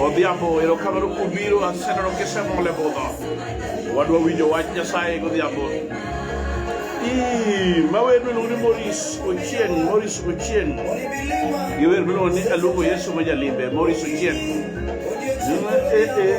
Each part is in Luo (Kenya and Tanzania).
Odhiambo erokamano kuom biro aseneno kisemo le budho. Wadwa winjo wach Nyasaye godhiambo. Ma wer miluongo ni Morris Ochieng, Morris Ochieng. Gi wer miluongo ni Aluongo Yesu ma jalimbe, Morris Ochieng. Eh, eh.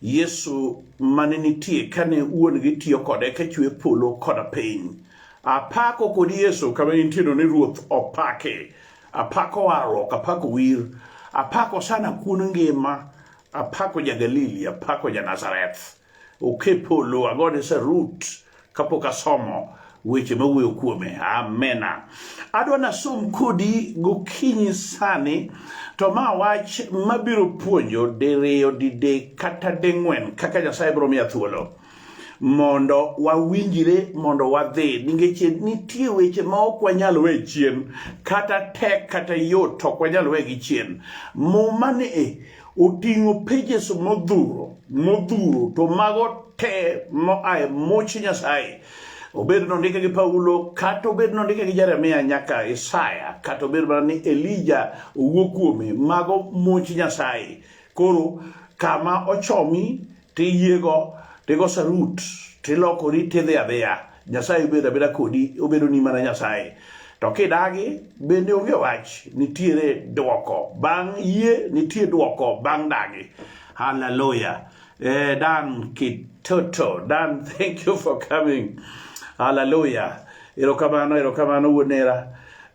Yesu mane nitie kane wuon gi tiyo kode ka chwe polo koda piny. Apako kod Yesu kama intieno ni Ruoth opake. Apako warruok, apako wir, apako sana kuon ngima, apako ja Galili, apako ja Nazareth. Oke polo, agone sarut, kapok asomo weche mawuoyo kuome amena adwa nasom kodi gokinyi sani to ma wach mabiro puonjo diriyo didek kata ding'wen kaka nyasaye biro miya thuolo mondo wawinjire mondo wadhi nikech nitie weche ma ok wanyal we chien kata tek kata yot to ok wanyal wegi chien muma ni e oting'o pages modhuro modhuro to mago te moa e much Nyasaye obed nondike gi Paulo kata obed nondike gi Jeremia nyaka Isaya kata obed mana ni Elija owuo kuome mago much Nyasaye koro kama ochomi tiyiego tigo sarut tilokori tidhi adhiya nyasaye obedo abeda kodi obedo ni mana nyasaye to kidagi bende onge wach nitiere dwoko bang' yie nitie dwoko bang' dagi haleluya eh, dan kitoto dan thank you for coming haleluya erokamano erokamano wuonera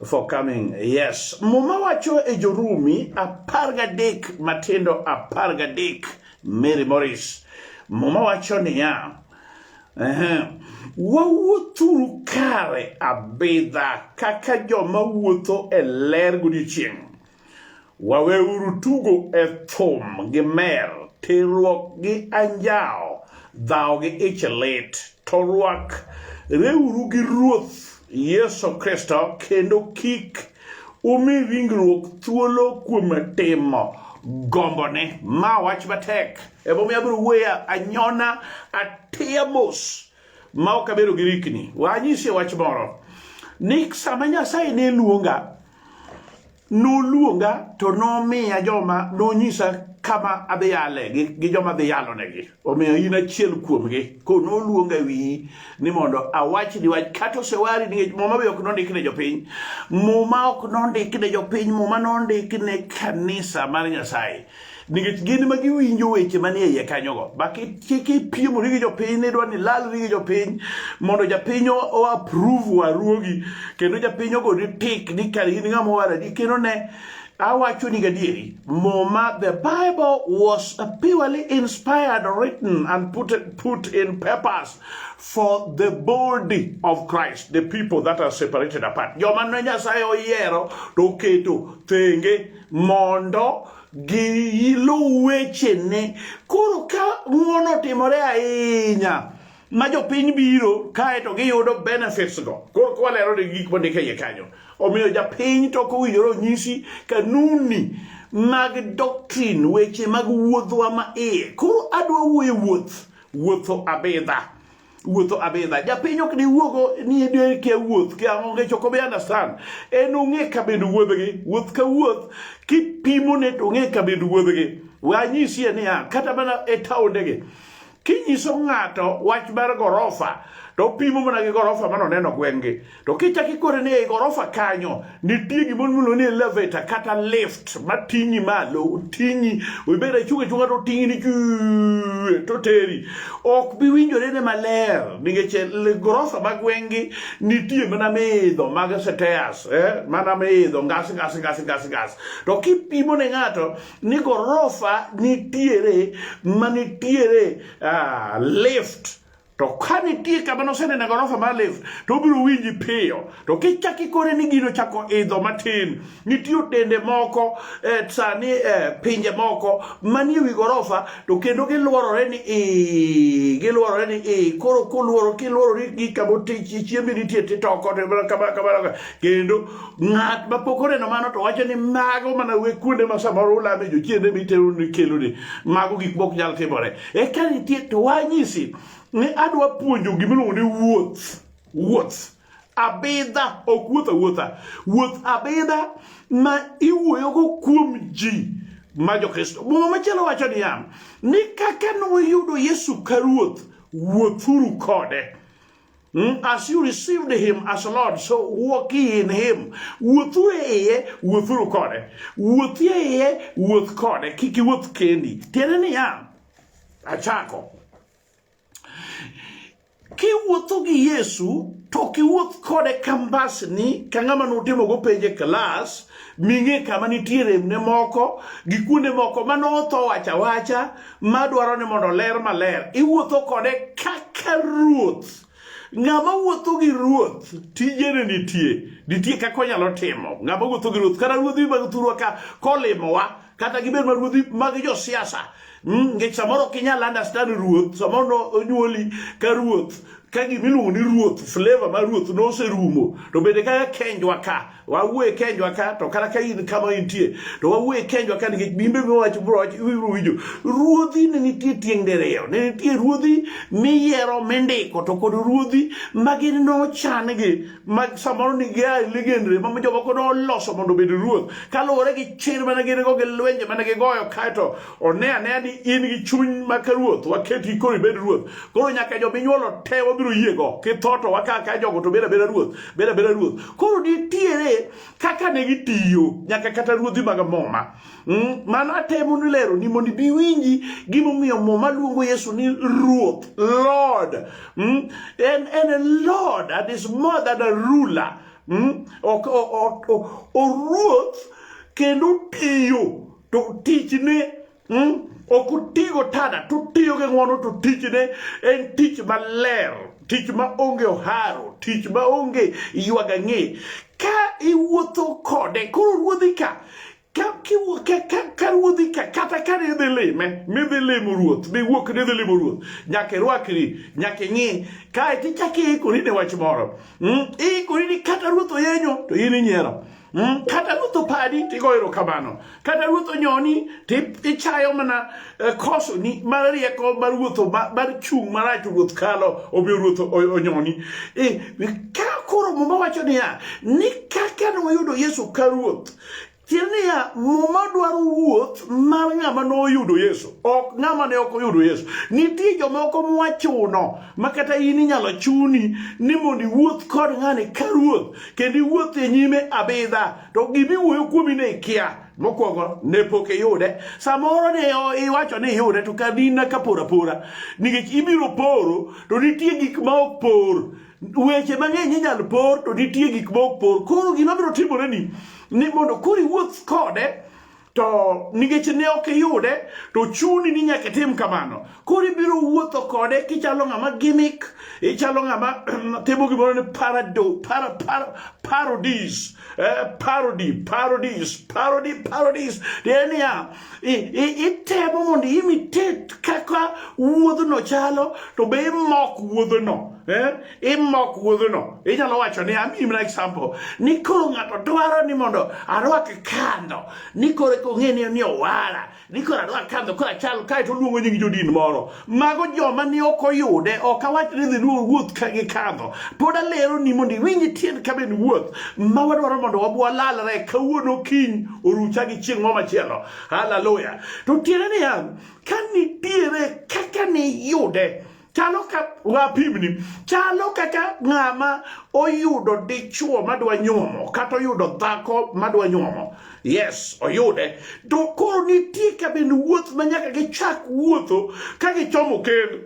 for coming yes muma wacho e jorumi apar gadek matindo apar gadek Mary Morris. Muma wacho niya, ehe, wawuothuru kare abidha kaka joma wuotho e ler godiechieng'. Waweuru tugo e thum gi mer, terruok gi anjawo, dhawo gi ich lit, to rwak reuru gi Ruoth Yesu Kristo kendo kik Umi ringruok thuolo kuom timo gombone. Ma wach matek. Emomiyo abiro wuoya anyona atiya mos ma ok abedo gi rikni. Wanyisie wach moro ni sama Nyasaye ne luonga noluonga to nomiya joma nonyisa kama adhi yale gi joma adhi yalonegi. omiyo in achiel kuomgi ko noluonga wiyi ni mondo awachni wach kata osewari nikech muma be ok nondik ne jopiny muma ok nondik ne jopiny muma nondik ne kanisa mar nyasaye nikech gin ma giwinjo weche manie iye kanyogo bakipiemori gi jopiny nidwa ni lalri gi jopiny mondo japiny oapprove waruogi kendo japiny ogoni tik ni kar in ng'ama owaradi kendo ne Awachoni gadieri, Muma, the Bible was purely inspired, written, and put, put in purpose for the body of Christ, the people that are separated apart. Joma ne Nyasaye oyiero to oketo thenge mondo giluw wechene. Koro ka ng'wono otimore ahinya ma jopiny biro kae to giyudo benefits go koro kwalero ni gik mondik e iye kanyo omiyo japiny to ok owinjore onyisi kanuni mag doctrine weche mag wuodhwa ma iye koro adwa wuoye wuoth wuotho abidha wuotho abidha japiny ok diwuogo ni idwe kia wuoth kia onge choko be understand en ong'e kabind wuodhgi wuoth ka wuoth kipimo ne to ong'e kabind wuodhgi wanyisie niya kata mana e taondegi kinyiso ng'ato wach mar gorofa to opimo mana gi gorofa mano neno gweng'gi to kichak ikore ni ei gorofa kanyo nitie gimoro miluongo ni elevator kata lift mating'i malo ting'i ibed achung' achung'a to ting'i ni to teri ok bi winjore ne maler nikech gorofa ma gweng'gi nitie mana miidho mag seteas eh? mana miidho ngas ngas ngas ngas ngas to kipimo ne ng'ato ni gorofa nitiere ma nitiere uh, lift to ka nitie kama nosenene gorofa mar lift to obiro winji piyo to kichak ikore ni gino chako idho matin nitie otende moko eh, sani eh, pinje moko manie wi gorofa to kendo gilworore ni i gilworore ni i koro koluoro kilworori gi kama chiembi nitie titoko kendo Ng'at ma pok oneno mano to wacho ni mago mana we kuonde ma samoro ulame jochiende mitero ni kelo ni mago gik mok nyal timore. Eka nitie to wanyisi ni adwa puonjo gimiluongo ni wuoth. Wuoth. Abidha ok wuoth awuotha. Wuoth abidha ma iwuoyogo kuom ji ma jokristo. Muma machielo wacho niya ni kaka noyudo Yesu ka ruoth wuothuru kode. Hmm? As you received him as Lord, so walk ye in him. Wuothu e iye, wuothuru kode. Wuothi e iye, wuoth kode. Kik iwuoth kendi. Tiende niya, achako. Kiwuotho gi Yesu, to kiwuoth kode kambasni ka ng'ama nutimogo penje klas, ming'e kama nitie remne moko gi kuonde moko mane otho wacha wacha madwaro ni mondo ler maler iwuotho kode kaka ruoth ng'ama wuotho gi ruoth tijene nitie nitie kaka onyalo timo ng'ama wuotho gi ruoth kata ruodhi mag thurwa ka kolimowa kata gibed ma ruodhi mag josiasa hmm, nikech samoro ok inyal understand ruoth samoro onyuoli ka ruoth ka gima iluongo ni ruoth flavor ma ruoth noserumo to bende kaka kenjwa ka wawuoye kenjwa ka to kata ka in kama intie to wawuoye kenjwa ka nikech bimbe miwach broch ibiro winjo ruodhi ne nitie tieng' diriyo ne nitie ruodhi miyiero mindiko to kod ruodhi ma gin nochan gi ma samoro nigi ligendre ma jomoko ne oloso mondo obed ruoth kaluwore gi chir mane gin go gi lwenje mane gigoyo kaeto one anea ni in gi chuny ma ka ruoth waketi koro ibed ruoth koro nyaka jominyuolo te wabiro yiego kitho to waka ka jogo to beda beda ruoth beda beda ruoth koro nitiere kaka ne gitiyo nyaka kata ruodhi mag muma Mm, mano atemo ni lero ni mondo ibi winji gimomiyo muma luongo Yesu ni Ruoth, Lord. Mm, and, and a Lord and is more than a ruler. Mm, ok, ok, ok, oruoth kendo tiyo to tichne mm, ok otigo tada to tiyo gi ng'wono to tichne en tich maler tich ma onge oharo tich ma onge ywagang'e ka iwuotho kode koro ruodhi ka karuodhi kata kane idhi lime midhi limo ruoth miwuok ni idhi limo ruoth nyaka irwakri nyaka ing'i kae to ichako iikori ne wach moro hmm? iikori ni kata ruoth oyenyo to in inyiero Hmm? kata ruoth opadi tigo erokamano kata ruoth onyoni tichayo mana e, kosoni mar rieko mar wuotho mar chung' marach ruoth kalo omiyo ruoth onyoni e, ka koro muma wacho niya ni kaka noyudo yesu ka ruoth tiende niya muma dwaro wuoth mar ng'ama noyudo yesu ok ng'ama ne ok oyudo yesu nitie jomoko mwachuno ma kata in inyalo chuni ni mondo iwuoth kod ng'ani ka ruoth kendo iwuoth e nyime abidha to gimiwuoyo kuomi ne ikia Mokwongo ne pok iyude, samoro ne iwacho ni iyude to kadina ka pora pora, nikech ibiro poro to nitie gik ma ok por. Weche mang'eny inyal por to nitie gik ma ok por. Koro gima biro timore ni ni mondo koro iwuoth kode to nikech ne ok iyude to chuni ni nyaka itim kamano. koro ibiro wuotho kode kichalo ng'ama gimmick ichalo ng'ama timo gimoro ni parado para, para, parodies eh, parody parodies parody parodies tiende niya itemo mondo imitate kaka wuodhno chalo to be imok wuodhno eh? imok wuodhno inyalo wacho ni amiyi mana example ni koro ng'ato dwaro ni mondo arwak kando ni koro eka ong'e ni owara ni koro adwa kadho koro achal kae to oluongo nying jodin moro mago joma ni ok oyude ok awach ni dhi luwo wuoth ka gi kadho pod alero ni mondo iwinj tiend ka ben wuoth ma wadwaro mondo wabwalalre kawuono kiny orucha gi chieng' moro machielo haleluya to tiende niya ka nitiere kaka niyude chalo ka wapimni chalo kaka ng'ama oyudo dichuo madwa nyuomo kata oyudo dhako madwa nyuomo yes oyude to koro nitie kabin wuoth ma nyaka gichak wuotho ka gichomo kend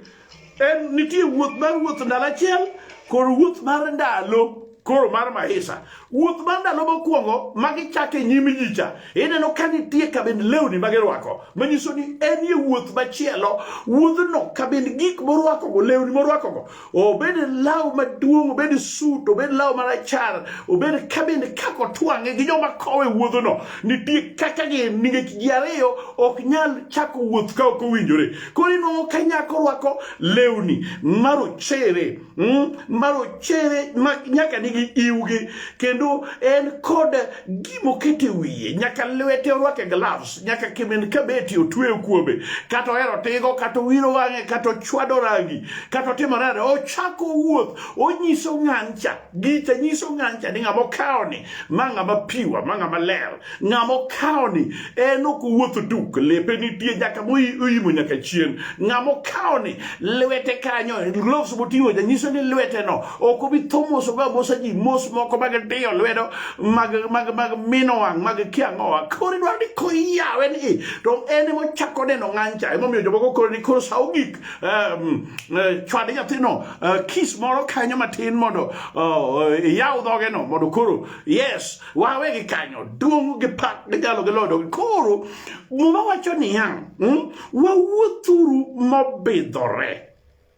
en nitie wuoth mar wuoth ndalo achiel kod wuoth mar ndalo koro mar maisha wuoth mar ndalo mokwongo ma gichake nyim nyicha ineno ka nitie kabind lewni ma girwako manyiso ni en ye wuoth machielo wuodhno kabind gik morwakogo lewni morwakogo obed law maduong' obed sut obed law marachar obed kabind kaka otwang'e gi joma kowe wuodhno nitie kaka gi nikech ji ariyo ok nyal chako wuoth ka ok owinjore koro inwang'o ka nyako rwako lewni marochere Mm, marochere ma nyaka nigi iwgi kendo en kod gima okete wiye nyaka lwete orwake gloves nyaka kimin kabeti otweyo kuome kata ohero tigo kata owiro wang'e kata ochwado rangi kata otimo nade ochako wuoth onyiso ng'ancha gicha nyiso ng'ancha ni ng'ama okawoni ma ng'ama piwa ma ng'ama ler Ng'ama okawoni en ok owuotho duk, lepe nitie nyaka moimo nyaka chien. Ng'ama okawoni lwete kanyo, gloves moting'o ja nyiso ni lweteno ok obi tho mos ogo amosa ji mos moko mag diyo lwedo mag mag mag mino wang' mag kiang'owa. Koro idwaro ni koyawe ni to en ema ochako neno ng'ancha. Emomiyo jomoko koro ni koro sa ogik um, eh, chwad nyathino eh, kis moro kanyo matin mondo oh, eh, iyaw dhogeno mondo koro yes wawe gi kanyo duong' gi pak gi jalo gi lodo koro muma wacho niya hmm, wawuothuru mobidhore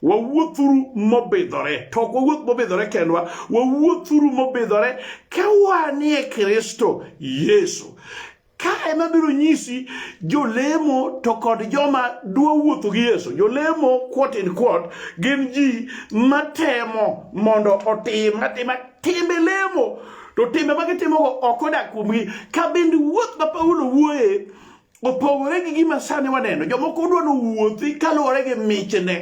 wawuothuru mobidhore to ok wawuoth mobidhore kendwa wawuothuru mobidhore ka wanie kristo yesu Ka ema biro nyisi jolemo to kod joma dwa wuotho gi Yesu. Jolemo quote in quote gin ji matemo mondo otim atima timbe lemo to timbe ma gitimogo ok odak kuomgi. Ka bende wuoth ma Paulo wuoye opogore gi gima sani waneno. Jomoko dwa ni owuothi kaluwore gi michne.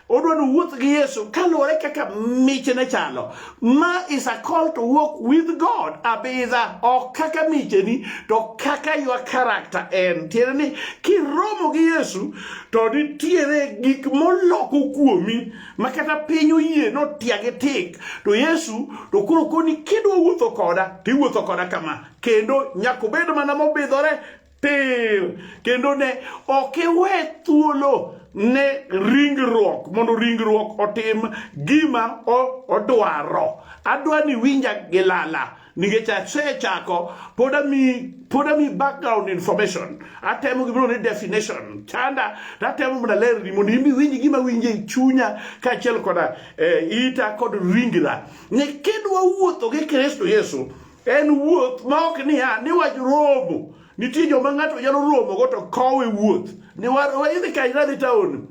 odwa ni wuoth gi Yesu kaluwore kaka michne chalo. Ma is a call to walk with God abidha, ok kaka micheni to kaka your character en. Tiende ni kiromo gi Yesu to nitiere gik moloko kuomi ma kata piny oyie notiagi tik to Yesu to koro koni kidwa wuotho koda tiwuotho koda kama kendo nyaka obed mana mobidhore tir kendo ne ok iwe thuolo ne ringruok mondo ringruok otim gima odwaro adwa ni winja gi lala nikech asechako pod ami pod ami background information atemo gimoro ni definition chanda tatemo mondo alerni mondo in iwinj gima winje e chunya kaachiel koda eh, ita kod ringra ni kidwa wuotho gi kristo yesu En wuoth ma ok niya ni wach romo. Nitie joma ng'ato nyalo romogo to kowe wuoth. Ni waidhi ka idhi taon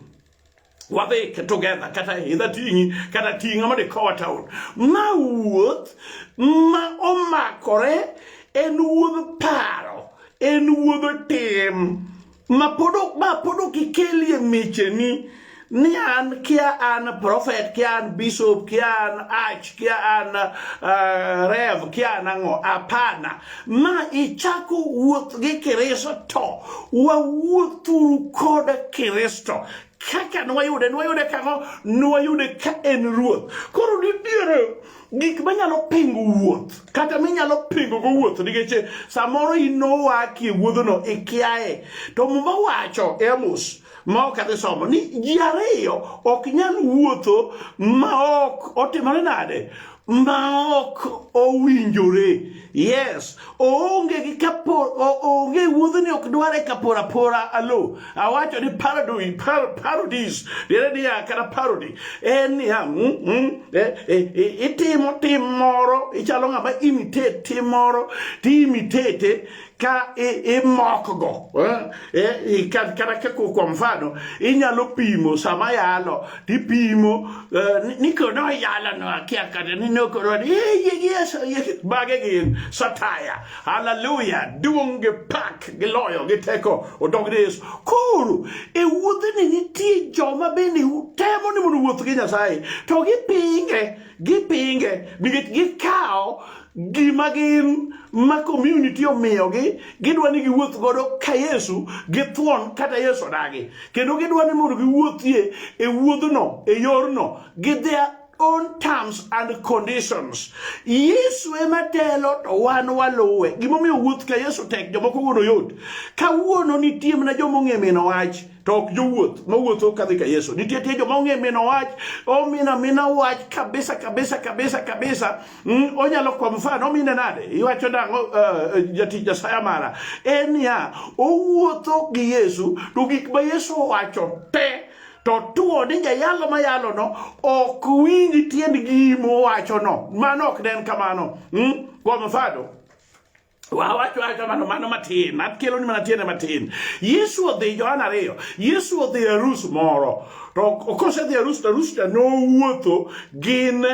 wadhi together kata idha ting'i kata ting'a mondo ikowa taon. Ma wuoth ma omakore en wuodh paro, en wuodh tim. ma pod ma pod ok ikelie micheni ni an kia an prophet kia an bishop kia an arch kia an uh, rev kia an ang'o hapana ma ichako wuoth gi kristo wawuothuru kod kristo kaka nwayude nwayude kang'o nwayude ka en ruoth koro nitiere gik manyalo pingo wuoth kata minyalo pingo go wuoth nikech samoro inowaki e wuodhono ikiaye to muma wacho e amos ma ok adhi somo ni ji ariyo ok nyal wuotho ma ok otimore nade ma ok owinjore Yes, oonge gi kapo oonge wuodhni ok dware kapora pora alo. Awacho ni parody par, parodies dire ni kata parody en ya mm, mm, eh, eh, eh, itimo tim moro ichalo ng'ama imitate tim moro ti imitate ka imokgo eh, eh, kata kwa mfano inyalo pimo sama yalo tipimo eh, ni kono ayala no akia kata ni no kono ni ye yeso bage gin sataya haleluya duong gi pak gi loyo gi teko odog ni yesu koro e wuodhe ni nitie joma bende temo ni mondo wuoth gi nyasaye to gipinge Gipinge nikech gikawo gima gin ma community omiyogi gidwa ni giwuoth godo ka Yesu githuon kata Yesu odagi kendo gidwa ni mondo giwuothie e wuodhno e yorno gi their own terms and conditions Yesu ema telo to wan waluwe gimomiyo wuoth ka Yesu tek jomoko wuono yot kawuono nitie mana joma ong'e mino wach to ok jowuoth mawuotho kadhi ka Yesu. Nitie tie joma ong'e mino wach, omina mina wach kabisa kabisa kabisa kabisa. Mm, onyalo kwa mfano omine nade? Iwacho nang'o uh, eh, jatich Nyasaye mara? En niya, owuotho gi Yesu to gik ma Yesu owacho te to tuo ni jayalo ma yalo no ok winj tiend gimo wacho no mano ok den kamano mm? kwa mfano Wawacho wacho mano mano matin, akelo ni mana tiende matin. Yesu odhi Johana ariyo, Yesu odhi arus moro. To kose dhi arus to arus cha nowuotho gin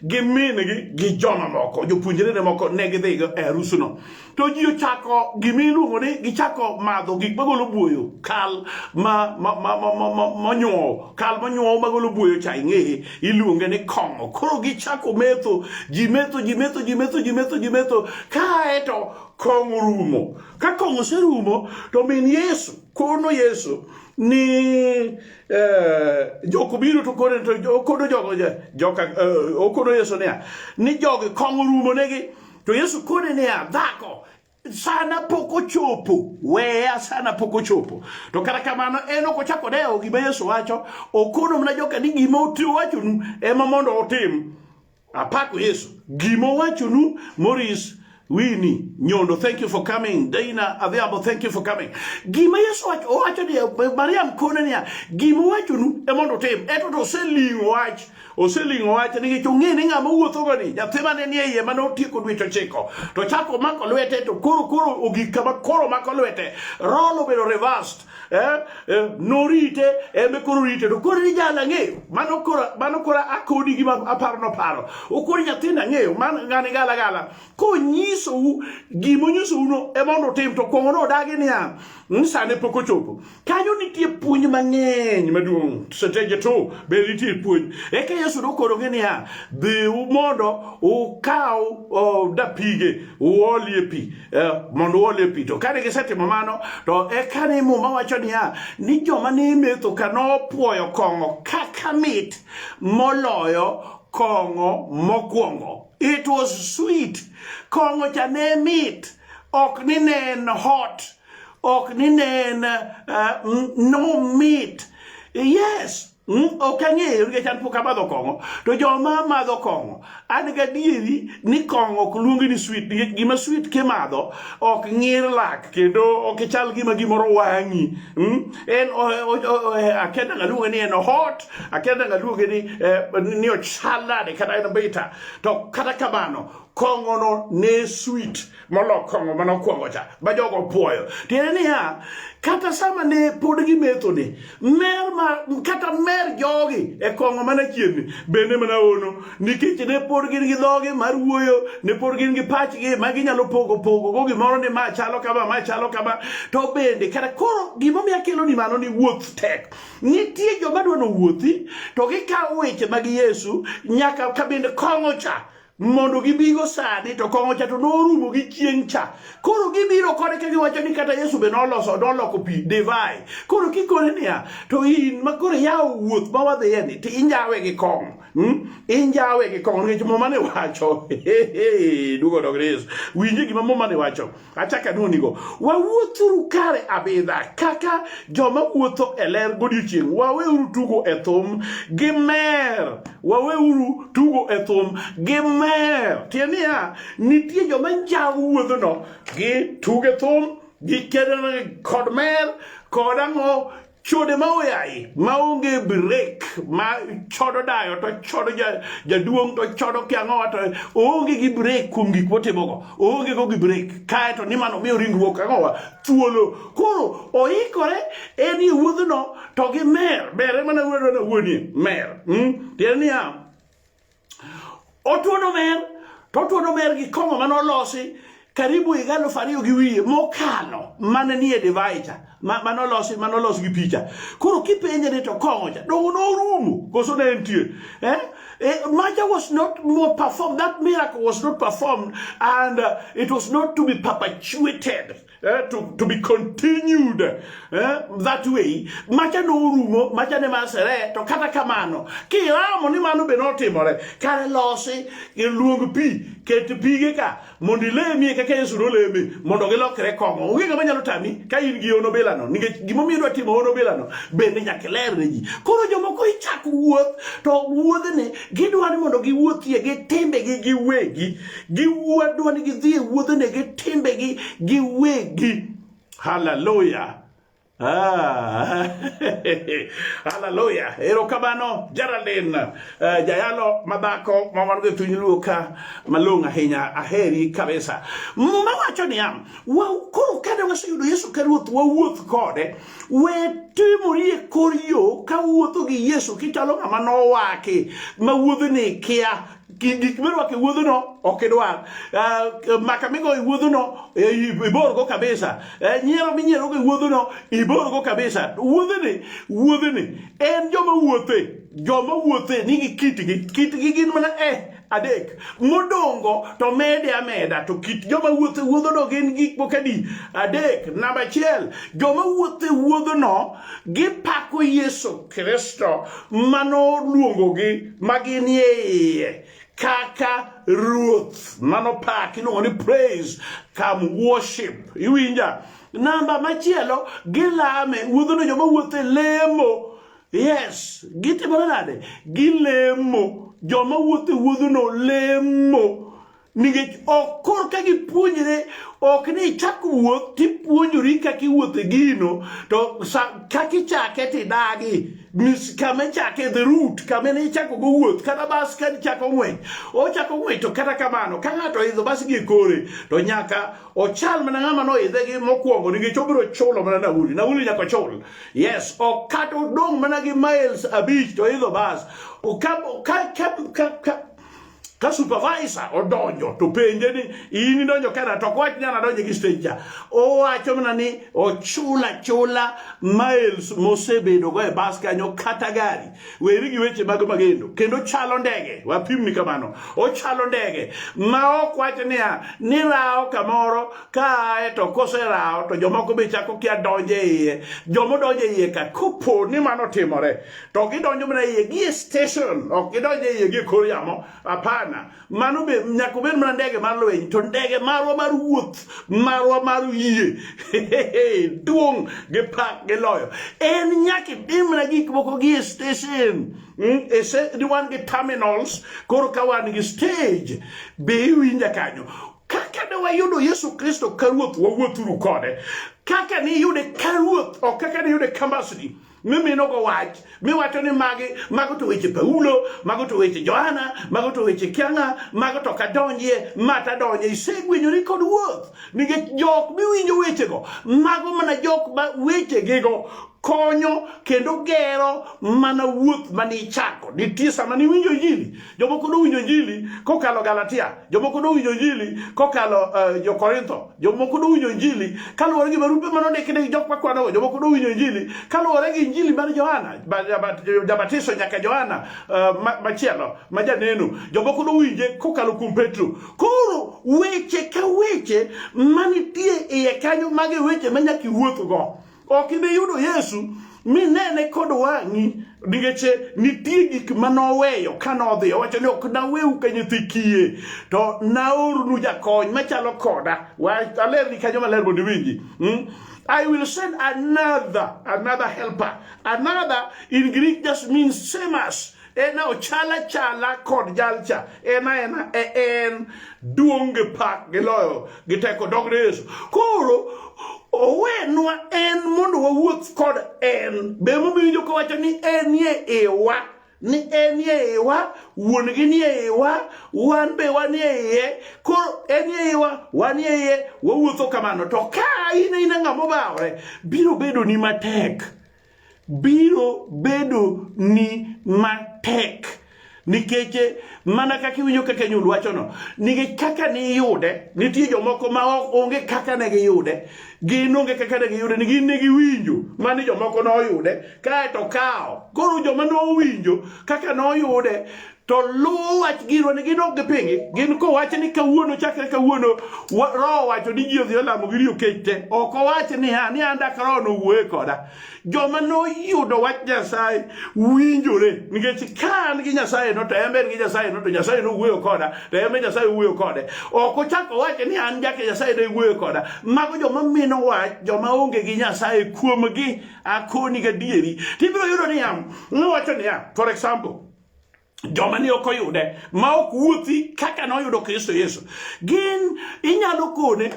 gi min gi gi joma moko, jopuonjre ne moko ne gidhi e arus no. To ji ochako gima iluongo ni gichako madho gik magolo buoyo, kal ma ma ma ma ma ma nyuowo, kal ma nyuowo magolo buoyo cha ing'eye. iluonge ni kong'o. Koro gichako metho, ji metho, ji metho, ji metho, ji metho, ji metho, kae to kong'o rumo. Ka kong'o oserumo, to min Yesu kono Yesu ni eh, jok biro to kono to okono jogo joka eh, okono Yesu niya ni jogi kong'o rumo negi to Yesu kone niya dhako sana pok ochopo, weya sana pok ochopo. To kata kamano en ok ochako dewo gima Yesu wacho, okono mana joka ni gima owachonu ema mondo otim. Apako Yesu, gima owachonu Maurice Winnie Nyondo, thank you for coming. Dana Adhiambo, thank you for coming. Gima Yesu wacho, owacho ni Mariam kone niya, gima owachonu ema mondo otim. Eto to oseling'o wach Oseling'o wach nikech ong'e ni ng'ama wuothogo ni nyathi mane nie iye mane otieko dweche ochiko to chako mako lwete to koro koro ogik kama koro mako lwete rol obedo reversed eh, eh, norite embe koro rite to koro ni jala ng'eyo mano koro mano koro akodi gi aparo noparo okoro nyathina ng'eyo man ng'ani gala gala konyisou gima onyisouno e mondo utim to kwong'o no odagi niya ni sane pok ochopo kanyo nitie puonj mang'eny maduong' seteje to be nitie puonj eka yesu nokorogi niya dhiu mondo ukaw uh, dapige uolie pi uh, mondo uolie pi to kane gisetimo mano to eka ne muma wacho niya ni joma ne metho ka nopwoyo kong'o kaka mit moloyo kong'o mokwongo It was sweet. Kong'o cha ne mit. Ok ni ne en hot. Ok ni ne en uh, no meat. Yes. Mm, ok ang'eyo nikech an pok amadho kong'o to joma madho kong'o an gadieri ni kong'o ok luongi ni swit nikech gima swit kimadho ok ng'ir lak kendo ok ichal gima gimoro wang'i mm, en akedaga luonge ni en hot akia nanga luonge ni eh, ni ochal nade kata en bita to kata kamano kong'ono ne sweet molo kong'o mane okwongo cha ma jogo puoyo tiende niya kata sama ne pod gimetho ni mer ma kata mer jogi e kong'o mana chienni bende mana ono nikech ne pod gin gi dhogi mar wuoyo ne pod gin gi pachgi ma ginyalo pogo pogo go gimoro ni ma chalo kama ma chalo kama to bende kata koro gimomiyo akelo ni mano ni wuoth tek Nitie joma dwa nowuothi to gikawo weche mag Yesu nyaka kabinde kong'o cha mondo gibigo sani to kong'o cha to norumo gi chieng' cha koro gibiro kode ka giwacho ni kata yesu be noloso noloko pi divai koro kikone niya to in ma koro yawo wuoth ma wadhiye ni to injawe gi kong'o hmm? injawe gi kong'o nikech muma ne wacho duogo dog yesu winje gima muma ne wacho acha kanonigo wawuothuru kare abidha kaka joma wuotho e ler godiechieng' waweuru tugo e thum gi mer waweuru tugo e thum gi mer tiend niya nitie joma njawo wuodhono gi tuge thum gi kedo kod mer kod ang'o chode ma oyayi maonge break ma chodo dayo to chodo jaduong' to chodo kiang'owa to oonge gi break kuom gik motimogo oonge go gi break kae to ni mano miyo ringruok ang'owa thuolo koro oikore en e wuodhno to gi mer bere mana wuodona wuonie mer hmm? tiende niya Otuono mer, to otuono mer gi kong'o mane olosi karibu higa alufu ariyo gi wiye mokano mane nie divai cha ma- mane olosi mane olos gi picha koro kipenje ni to kong'o cha dongo norumo koso ne entie eh? Eh, maja was not more performed that miracle was not performed and uh, it was not to be perpetuated eh, to, to be continued eh, that way macha norumo macha ne masere to kata kamano kiramo ni mano be notimore kare losi luong pi ket pige ka mondo ilemie kaka yesu noleme mondo gilokre kong'o onge ng'ama nyalo tami ka in gi ono bilano nikech gimomiyo idwa timo ono bilano bende nyaka iler ne ji koro jomoko ichako wuoth to wuodhni gidwa ni mondo giwuothie gi timbegi giwegi Giwadwa ni gidhi e wuodhene gi timbegi giwegi. Haleluya! Ah, haleluya erokamano Geraldine uh, eh, jayalo madhako ma wan go e piny luo ka malong' ahinya aheri kabisa muma wacho niya koro kane waseyudo yesu ka ruoth wawuoth kode we timori e kor yo ka wuotho gi yesu kichalo ng'ama nowaki ma wuodhni kia gik mirwako e wuodhono ok idwar uh, maka migo e wuodhono eh, iborgo kabisa uh, nyiero minyierogo e wuodhono iborgo kabisa wuodheni wuodheni en joma wuothe joma wuothe nigi kitgi kitgi gin mana eh adek modongo to mede ameda to kit joma wuothe wuodhono gin gik moko adi adek namba achiel joma wuothe wuodhono gipako Yesu Kristo manoluongogi maginie iye kaka ruoth mano pak iluongo ni praise come worship iwinja namba machielo gilame wuodhono joma wuotho e lemo yes gitimore nade gilemo joma wuotho e wuodhono lemo nikech ok kor ka gipuonjre ok ni ichak wuoth tipuonjori kaka iwuotho e gino to kaka ichake tidagi kama ichake the root kama ne ichako go wuoth kata bas ka ichako ng'weny ochako ng'weny to kata kamano ka ng'ato oidho bas gi e kore to nyaka ochal mana ng'ama noidhe gi mokwongo nikech obiro chulo mana nauli nauli nyaka ochul yes ok kata odong' mana gi miles abich to oidho bas ka, ka, ka, ka, ka ka supervisor odonjo to penje ni in idonjo kera to kwach nyana donjo gi stranger owacho mana ni ochula chula miles mosebedo go e bas kanyo kata gari weri gi weche mag magendo kendo chalo ndege wapimni kamano ochalo ndege ma ok wach niya ni rawo kamoro kae to koserawo to jomoko be chako kia donjo e iye jomodonjo e iye ka kopo ni mano timore to gidonjo mana iye gie station ok gidonjo iye gie kor yamo hapana mano be nyaka obed mana ndege mar lweny to ndege marwa mar wuoth marwa mar yie duong' gi pak gi loyo en nyaka itim mana gik moko gie station hmm, e wan gi terminals koro ka wan gi stage be iwinja kanyo kaka ne wayudo yesu kristo ka ruoth wawuothuru kode kaka niyude ka ruoth ok kaka niyude ka mbasni mimino go wach miwacho ni magi mago to weche Paulo mago to weche Johana mago to weche Kianga mago to kadonjie mata donje isegwenyori kod wuoth nikech jok miwinjo wechego mago mana jok ma wechegigo konyo kendo gero mana wuoth mane ichako nitie sama niwinjo injili Jomoko nowinjo Injili kokalo Galatia, jomoko nowinjo Injili kokalo uh, Jo-Korintho, jomoko nowinjo Injili kaluwore gi barupe ma nondiki ne jok makwanogo, jomoko nowinjo Injili kaluwore gi Injili mar Johana Jabatiso nyaka Johana uh, machielo ma janeno, jomoko nowinje kokalo kuom Petro. Koro weche ka weche manitie iye kanyo mage weche ma nyaka iwuothgo. Ok ibi yudo Yesu minene kod wang'i nikech nitie gik ma noweyo ka nodhi owacho ni ok naweu ka nyithi kiye to naornu jakony machalo koda alerni kanyo maler mondo iwinji hmm? I will send another, another helper. Another in Greek just means same as. en ochal achala kod jalcha en aena e en duong' gi pak gi loyo gi teko dogre yesu koro owenwa en mondo wawuoth kod en be momiyo joka wacho ni en ye iwa ni en ye iwa wuon gi ni ye iwa wan be wan ye iye koro en ye iwa wan ye iye wawuotho kamano to ka in ina ng'ama obawore biro bedo ni matek biro bedo ni matek nikech eh, mana kaka iwinjo kaka nyul wachono nikech kaka niyude nitie jomoko ma onge kaka ne giyude gin onge kaka ne giyude ni gin ne giwinjo mani jomoko noyude kaeto kawo koro joma nowinjo kaka noyude to luw wach giro ni gin ok gipingi gin kowache ni kawuono chakre kawuono roho wacho ni ji odhi olamo gi riyo kech te ok owache niya ni an dak roho nowuoye koda joma noyudo wach nyasaye winjore nikech ka an gi nyasaye no to en be en gi nyasaye no to nyasaye nowuoyo koda to en be nyasaye owuoyo kode ok ochak owache ni an jake nyasaye ne wuoyo koda mago joma mino wach joma onge gi nyasaye kuomgi akoni gadieri tibiro yudo niya nowacho niya for example joma ne ok oyude ma ok wuothi kaka noyudo kristo yesu gin inyalo kone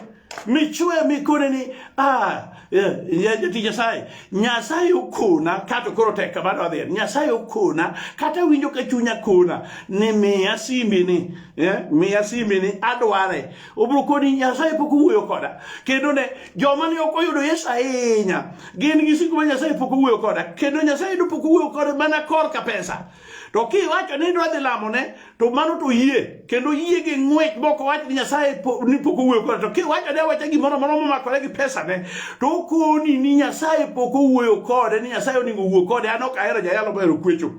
michwe mikone ni ah, eh, jatich nyasaye nyasaye okona kato koro tek kamano adhier nyasaye okona kata winjo ka chunya kona ni miya simbi ni eh, miya simbi ni adware Obiro koni Nyasaye pok owuoyo koda. Kendo ne joma ne ok oyudo Yesu ahinya gin gi siku ma Nyasaye pok owuoyo koda. Kendo Nyasaye ne pok owuoyo koda mana korka pesa. To kiwacho ni idwa dhi lamone to mano to yie kendo yie gi ng'wech moko wach ni Nyasaye ni pok owuoyo koda. To kiwacho ni awacha gimoro amora momakore gi pesa ne to okoni ni Nyasaye pok owuoyo kode ni Nyasaye onego owuo kode an ok ahero jayalo mohero kwecho.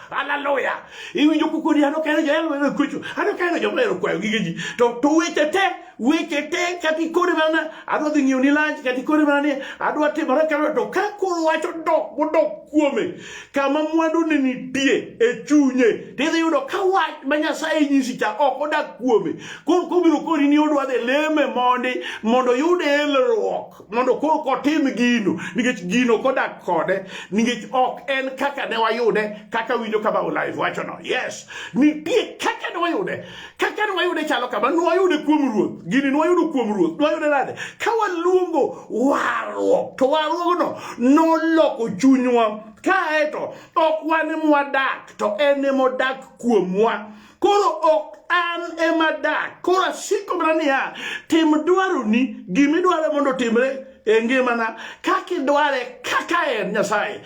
Haleluya. Iwinjo kukoni ano kero jo elo elo kucho. Ano kero jo elo kwa gige ji. To to weche te, weche te kati kore mana adwa dhi ng'iyo ni lunch kati kore mana ni adwa timore kero to ka koro wacho dok bodok kuome kama mwandu ni nitie e chunye. Tidhi yudo ka wach ma Nyasaye nyisi cha ok odak kuome. Koro kobiro kori ni odwa dhi leme mondi mondo yude elruok. mondo koro kotim gino nikech gino kodak kode nikech ok en kaka ne wayude kaka winjo kama olive wachono yes nitie kaka ne wayude kaka ne wayude chalo kama nwayude kuom ruoth gini nwayudo kuom ruoth nwayude nade ka waluongo warruok to warruogno noloko chunywa kaeto ok wan mwadak to en emodak kuomwa koro ok an ema dak koro asiko mana niya tim dwaroni gimidware mondo otimre e ngimana kaka idware kaka en nyasaye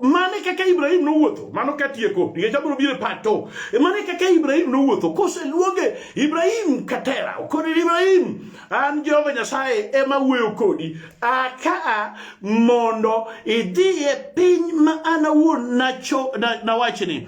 mane kaka ibrahim nowuotho mano katieko nikech abiro biro e pato e mane kaka ibrahim nowuotho koseluonge ibrahim katera kodi ibrahim an jehova nyasaye ema wuoyo kodi akaa mondo idhi e piny ma an awuon nawachni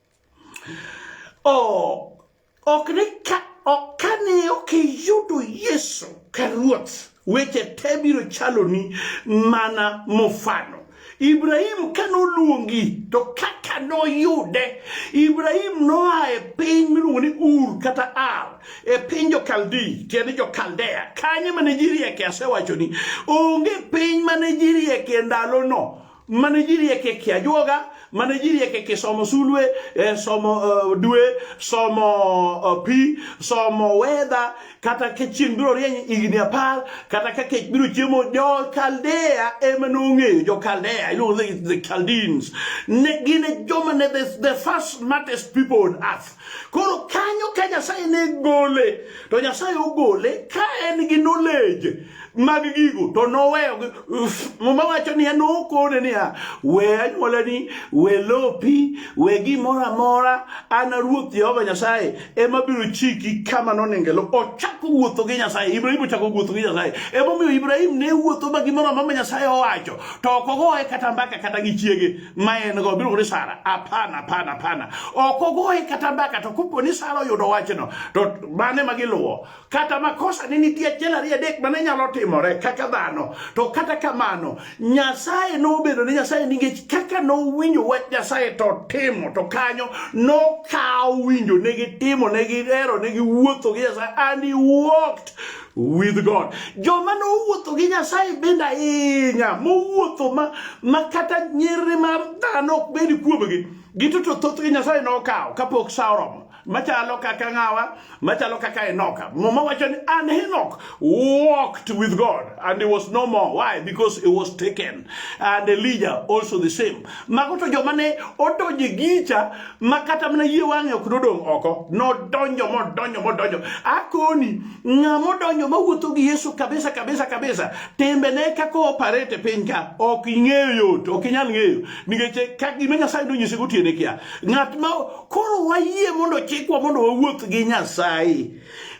Oh, ok ni ka ok kane ok iyudo Yesu ka ruoth weche te biro chaloni mana mofano Ibrahim ka noluongi to kaka noyude Ibrahim noa e piny miluongo ni Ur kata Ar e piny Jokaldi tiende Jokaldea kanye mane ji rieke asewachoni onge piny mane ji rieke ndalono mane ji rieke ki ajuoga mane ji rieke ki somo sulwe eh, somo uh, dwe somo uh, pi somo wedha kata ka chieng' biro rieny higni apar kata ka kech biro chiemo jokaldea ema nong'eyo jokaldea iluongo the, the caldines ne gin e joma ne the, the first smartest people on earth Koro kanyo ka Nyasaye ne gole, to Nyasaye ogole ka en gi knowledge mag gigo to noweyo muma wacho niya nokone niya we anyuolani we lopi we gimoro amora an ruoth jehova nyasaye ema biro chiki kama nonengelo ochako wuotho gi nyasaye ibrahim ochako wuotho gi nyasaye emomiyo ibrahim ne wuotho ma gimoro amora ma nyasaye owacho to ok ogoye kata mbaka kata gi chiege ma en go miluongo ni Sara. Hapana, hapana, hapana. Ok ogoye kata mbaka to kopo ni Sara oyudo wachno to mane ma giluwo. Kata makosa ne nitie achiel ariyo adek mane nyalo timore kaka dhano. To kata kamano Nyasaye nobedo ni Nyasaye nikech kaka nowinjo wach Nyasaye to timo to kanyo nokawo winjo ne gitimo ne gihero ne giwuotho gi Nyasaye and he walked with God. Joma nowuotho gi Nyasaye bende ahinya, mowuotho ma, ma kata nyirri mar dhano ok bed kuomgi, gito to thothgi Nyasaye nokawo kapok sa oromo machalo kaka ng'awa machalo kaka enoka muma wacho ni and henok walked with god and he was no more why because he was taken and elijah also the same mago to joma ne odonje gicha ma kata mana yie wang'e ok nodong' oko nodonjo modonjo modonjo akoni ng'a modonjo mawuotho gi yesu kabisa kabisa kabisa timbene kaka oparete piny ka ok ing'eyo yot ok inyal ng'eyo nikech ka gima nyasaye nonyise gotiene kia ng'at ma koro wayie mondo chikwa mondo wawuoth gi nyasaye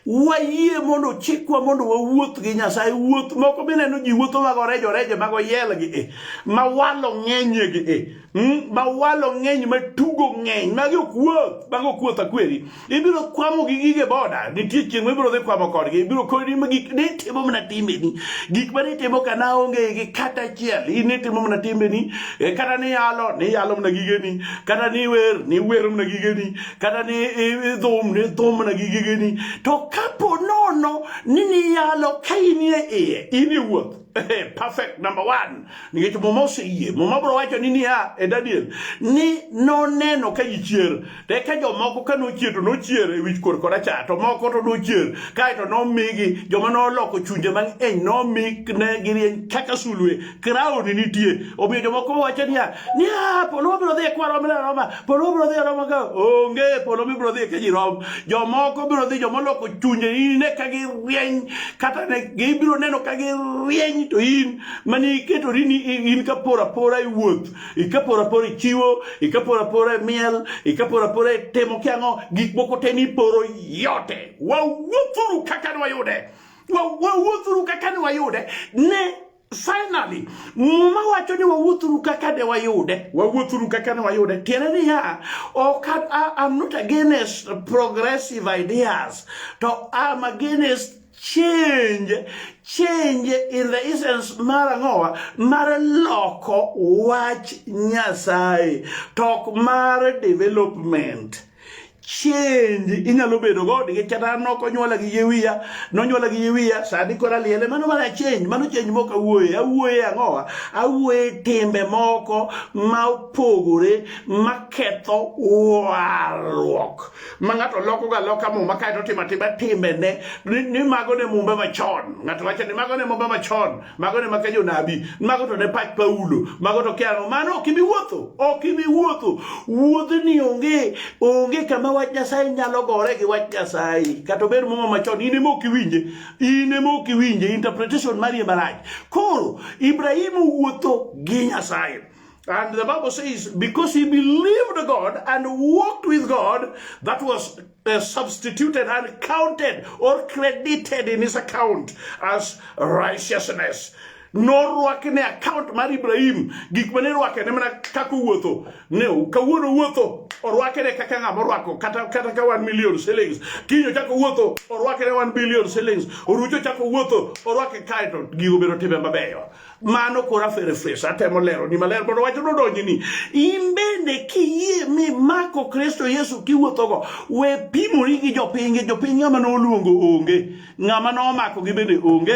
wayie mondo chikwa mondo wawuoth gi nyasaye wuoth moko mineno ji wuotho mago rejo rejo mago yelgi e ma walo ng'enyegi e Hmm? ma walo ng'eny ma tugo ng'eny magi ok wuoth mago ok wuoth akweri ibiro kwamo gi gige boda nitie chieng' ma ibiro dhi kwamo kodgi ibiro kodi ma gik ne timo mana timbeni gik ma nitimo ka na onge gi kata achiel in nitimo mana timbeni e, kata ni yalo ni yalo mana gigeni kata ni wer ni wero mana gigeni kata ni dhum ni dhum mana gi gigeni to kapo nono ni niyalo ka in e iye in e wuoth Hey, perfect number one nikech muma oseyie muma bro wacho ni niya e daniel ni noneno ka ji chier to eka jomoko ka nochier to nochier e wich kor koracha to moko to nochier kaeto nomigi joma noloko chunje mang'eny nomi ne girieny kaka sulwe kraoni nitie omiyo jomoko wacho niya niya polo wabiro dhi e kwarwa mileroma Polo bro dhi aroma ka onge polo mi bro dhi ka ji rom. Jomoko bro dhi joma oloko chunje in ne ka gi rieny kata ne gibiro neno ka gi rieny to in mani iketo ni in ka pora pora i wuoth ika pora pora i chiwo ika pora pora i miel ika pora pora i timo kiango gik moko te ni poro yote wawuothuru kaka nwayude wawuothuru kaka nwayude ne Finally, muma wacho ni wawuothuru kaka de wayude, wawuothuru kaka ne wayude. Tiende niya, ok I'm not against progressive ideas, to I'm against change change in the essence mar ang'owa mar loko wach nyasaye tok mar development change inyalo bedo go nikech kata an ok onyuola gi yie wiya nonyuola gi yie wiya sani koro aliele mano mana change mano change mok awuoye awuoye ang'owa awuoye timbe moko ma opogore maketho warruok ma ng'ato lokoga loka muma kaeto otimo atima timbene ni mago ne mumbe machon ng'ato wacho ni mago ne mumbe machon mago ne maka jonabi mago to ne pach paulo mago to kiano mano ok ibi wuotho ok ibi wuotho wuodhni onge onge kama wach nyasaye nyalo gore gi wach nyasaye kata ober muma machon in ema ok iwinje in ema ok iwinje interpretation mari ema rach koro ibrahim wuotho gi nyasaye And the Bible says, because he believed God and walked with God, that was uh, substituted and counted or credited in his account as righteousness. norwake ne account mar Ibrahim gik mane rwake ne mana kaka owuotho ne kawuono owuotho orwake ne kaka ng'ama orwako kata kata ka wan million shillings kinyo chako owuotho orwake ne wan billion shillings orucho chako owuotho orwake kaeto gigo bedo timbe mabeyo mano koro aferefres atemo lero ni maler mondo wach nodonji ni in bende kiyie mi mako kristo yesu kiwuothogo we pimori gi jopiny gi jopiny ng'ama noluongo onge ng'ama nomako gi bende onge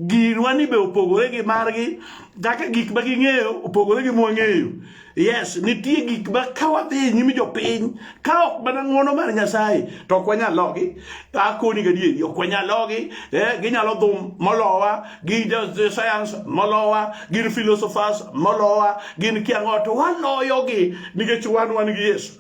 girwa ni be opogore gi margi kaka gik ma ging'eyo opogore gi mwang'eyo Yes, nitie gik ma ka wadhi nyime jopiny ka ok mana ng'wono mar Nyasaye to ok wanyal logi. Akoni gadieri ok wanyal logi, eh, ginyalo dhum molowa, gi science molowa, gin philosophers molowa, gin kiang'o to waloyogi nikech wan wan gi Yesu.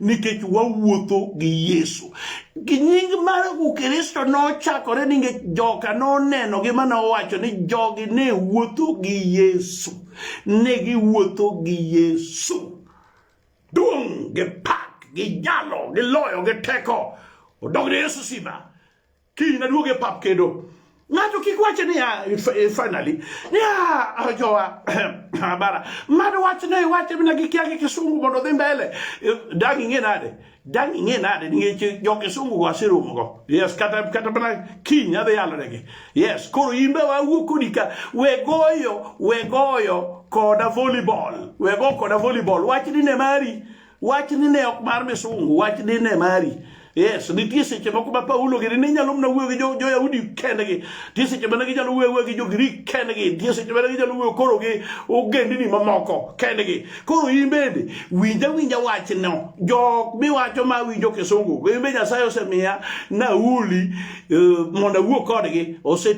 nikech wawuotho gi Yesu. Gi nying mar Ukristo nochakore nikech joka noneno gi mana owacho ni jogi ne wuotho gi Yesu. Ne giwuotho gi Yesu. Duong' gi pak gi jalo gi loyo gi teko. Odog ne Yesu sima. kiny naduog e pap kendo ng'ato kik wache niya eh, finally niya ah, jowa bara mad wach ne wache mina gikia gi kisungu mondo dhi mbele eh, dang' ing'e nade dang' ing'e nade ningech jo kisungu go aseromo go yes kata kata mana kiny adhi yalonegi yes koro in be wawuo kodi ka we goyo we goyo koda volleyball we go koda volleyball wach ni ne mari wach ni ne ok mar misungu wach ni ne mari yes nitie seche moko ma paulo gini ne nyalo mna wuoyo gi jo-yahudi jo kendgi nitie seche mane ginyalo wuoyo wuoyo gi jo-grik kendgi nitie seche mane ginyalo wuoyo koro gi ogendini mamoko kendgi koro in bende winja winja wachno jok miwacho ma winjo kisungu in be nyasaye osemiya nauli uh, eh, mondo awuo kodgi ose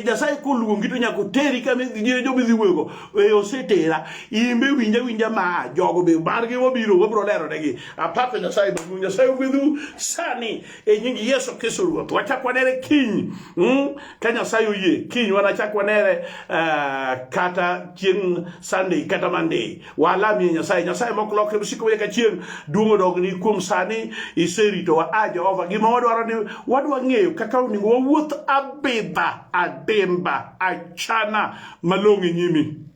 nyasaye koluongi to nyaka oteri kama jomidhi wuoyogo e osetera in be winja winja ma jogo be margi wabiro wabiro lero negi apako nyasaye maduong' nyasaye ogwedhu sani e nying yesu kristo ruoth wachak wanere kiny mm? ka nyasaye oyie kiny wanachak wanere uh, kata chieng' sunday kata monday walamie nyasaye nyasaye mok lokre msiko weye ka chieng' duong' odogni kuom sani iseritowa a jehova gima wadwaro ni wadwa ng'eyo kaka onego wawuoth abidha adimba achana malong'o e nyimi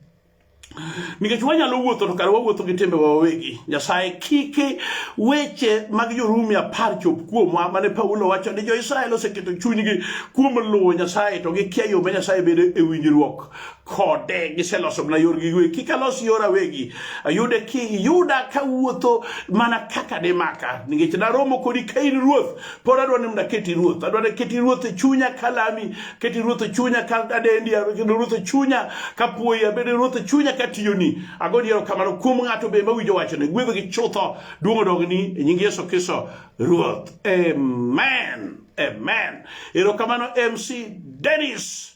nikech wanyalo wuotho to kare wawuotho gi timbewa wawegi nyasaye kiki weche mag jorumi apar chop kuomwa mane paulo wacho ni jo-israel oseketo chunygi kuom luwo nyasaye to gikia yo ma nyasaye bedo e winjruok kode giseloso mana yorgi giwegi kik alos yora wegi ayude ki yuda kawuotho mana kaka dimaka nikech naromo kodi ka in ruoth pod adwa ni mondo aketi ruoth adwa ni keti ruoth e chunya kalami keti ruoth e chunya ka adendi kendo ruoth e chunya ka puoyi abedo ruoth e chunya ka tiyoni ago diero kamano kuom ng'ato be mawinjo wachone gwedho gi chutho duong' odogni e nying Yesu Kristo ruoth amen amen erokamano MC Dennis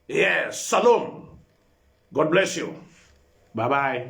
yes salom God bless you bye bye